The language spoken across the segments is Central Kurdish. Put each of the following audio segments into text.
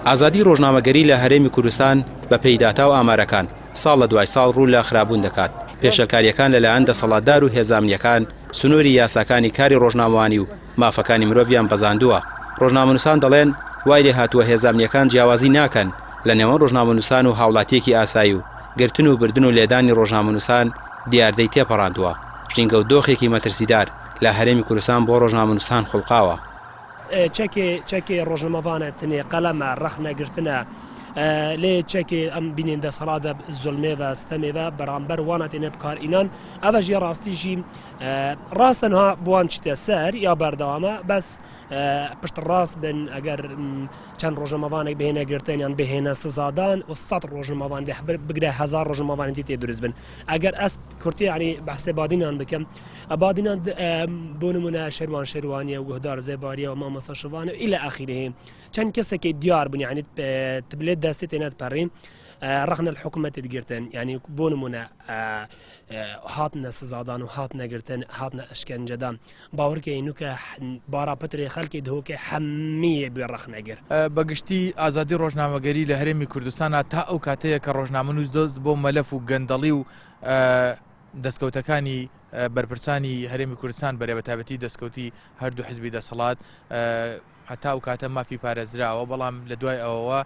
ئازادی ڕۆژنامەگەری لە هەرێمی کوردستان بە پێی داتا و ئامارەکان ساڵ لە دوای ساڵ ڕوو لە خرابوون دەکات پێشلکاریەکان لەلایەن دەسەڵاتدار و هێزامنیەکان سنووری یاساکانی کاری ڕۆژنامەوانی و مافەکانی مرۆڤیان بەزاندووە ڕۆژنامەنووسان دەڵێن وای لێ هاتووە هێزامنیەکان جیاوازی ناکەن لە نێوان ڕۆژنامەنووسان و هاوڵاتیەکی ئاسایی و گرتن و بردن و لێدانی ڕۆژنامەنووسان دیاردەی تێپەڕاندووە ژینگە و دۆخێکی مەترسیدار لە هەرێمی کوردستان بۆ ڕۆژنامەنووسان خوڵقاوە. چەکێ چەکێ ڕۆژنەمەڤانە تنێ قەلەمە ڕەخنە گرتنە لێ چەکێ ئەم بینێن دەسەڵاتە زلمێ بە ستەمێ بە بەرامبەر وانە تێنە بکار ئینان ئەوە ژێ ڕاستیژی ڕاستەنها بوان چتە سەر یا بەردەوامە بەس پشت ڕاست بن ئەگەر چەند ڕۆژەمەوانێک بهێنە گرتنیان بهێنە سزادان و سە ڕۆژنمەوان بگرە هزار ڕۆژنمەوانێتی تێ دروست بن ئەگەر ئەس کورتی عنی بەسێ بادینان بکەم ئەبادینان بۆ نمونە شەروان شەروانیە گوهدار زێباریە و مامەسا شوانە ئیلا ئاخیرهەیە چەند کەسێکی دیار بوون یعنی تبلێت دەستی تێنات پەڕین ڕخنە حکوومەتت گرتن ینی بۆ نمونە هاتنە سزادان و هات نەگرتن هاتنە ئەشکەنجەدان باورکەی نوکە باراپتری خەلکی دهۆکە حەمیە بێ ڕخنەگر بەگشتی ئازادی ڕۆژنامەگەری لە هەرێمی کوردستانە تا ئەو کاتەیە کە ڕۆژنامە نووس دۆز بۆ مەلەف و گەندەڵی و دەستکەوتەکانی بەرپرسانی هەرێمی کوردستان بەرە بە تابەتی دەستکەوتی هەردوو حزبی دەسەڵات هەتا و کاتە مافی پارێزراوە بەڵام لە دوای ئەوەوە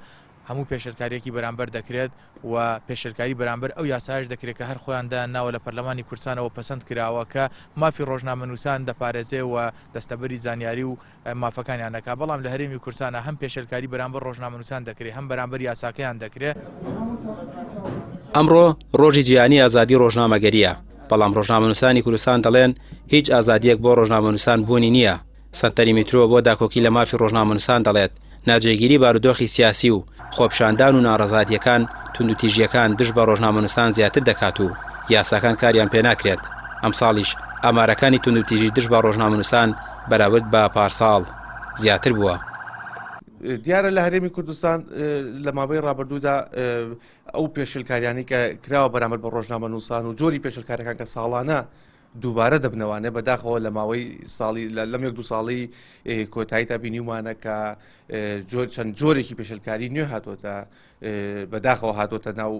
هەموو پێشرکاریەکی بەرامبەر دەکرێت و پێشرکاری بەرامبەر ئەو یاساش دەکرێت کە هەر خۆیاندا ناوە لە پەرلەمانی کورسانەوە پەسەند کراوە کە مافی ڕۆژنامەنووسان دەپارێزێ و دەستەبەری زانیاری و مافەکانیان نەکا، بەڵام لە هەرێمی کوردستانا هەم پێشێلکاری بەرامبەر ڕۆژنامەنووسان دەکرێ، هەم بەرامبەر یاساکەیان دەکرێ. ئەمڕۆ ڕۆژی جیهانی ئازادی ڕۆژنامەگەرییە، بەڵام ڕۆژنامەنووسانی کوردستان دەڵێن هیچ ئازادییەک بۆ ڕۆژنامەنووسان بوونی نییە. سەنتەری میترۆ بۆ داکۆکی لە مافی ڕۆژنامەنووسان دەڵێت ناجێگیری بارودۆخی سیاسی و خۆپیشاندان و ناڕەزایەتییەکان توندوتیژییەکان دژ بە ڕۆژنامەنووسان زیاتر دەکات و یاساکان کاریان پێ ناکرێت، ئەمساڵیش ئامارەکانی توندوتیژی دژ بە ڕۆژنامەنووسان بەراورد بە پارساڵ زیاتر بووە. دیارە لە هەرێمی کوردستان لە ماوەی ڕابردوودا ئەو پێشێلکاریانەی کە کراوە بەرامبەر بە ڕۆژنامەنووسان و جۆری پێشێلکارییەکان کە ساڵانە دووبارە دەبنەوانێ بەداخەوە لە ماوەی ساڵی لەم یەک دوو ساڵی کۆتایی تا بینیومانە کە جۆر چەند جۆرێکی پێشلکاری نوێ هاتوۆتە بەداخەوە هاتوۆتە ناو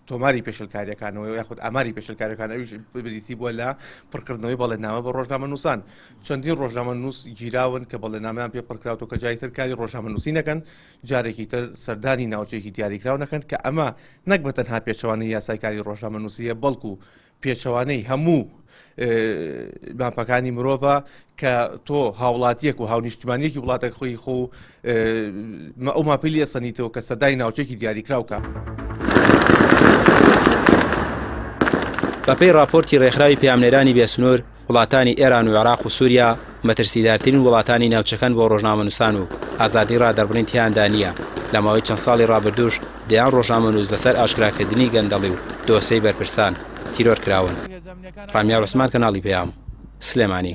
تۆماری پێشلکاریەکانەوە یاخود ئاماری پێشلکارەکان ئەوش بریتی بووە لە پڕکردنەوەی بەڵێنامە بە ڕۆژنامە نووسان چەندین ڕۆژنامە نووس گیراون کە بەڵێنامیان پێ پڕکراوەوە کە جای ترکاری ڕۆژنامە نووسینەکەن جارێکی تر سەردانی ناوچێکی دیاریکراونەکەن کە ئەمە نەک بە تەنها پێچوانی یاسایکاری ڕۆژنامە نووسە بەڵکو پێچەوانەی هەموو مافەکانی مرۆڤە کە تۆ هاوڵاتیەک و هاونیشتمانیەکی وڵاتەک خۆی خۆ ئەو ماپیلی ئەسەنیتەوە کە سەدای ناوچێکی دیاریکراوکە. بەپێی ڕاپۆرتی ڕێکخراوی پەیامنێرانی بێسنوور، وڵاتانی ئێران و عێراق و سووریا مەترسیدارترین وڵاتانی ناوچەکەن بۆ ڕۆژنامەنووسان و ئازادیی ڕادەربڕین تیاندا نییە، لە ماوەی چەند ساڵی ڕابردووش دەیان ڕۆژنامەنووس لەسەر ئاشکراکردنی گەندەڵی و دۆسێی بەرپرسان، تیرۆر کراون. ڕامیار عوسمان، کەناڵی پەیام، سلێمانی.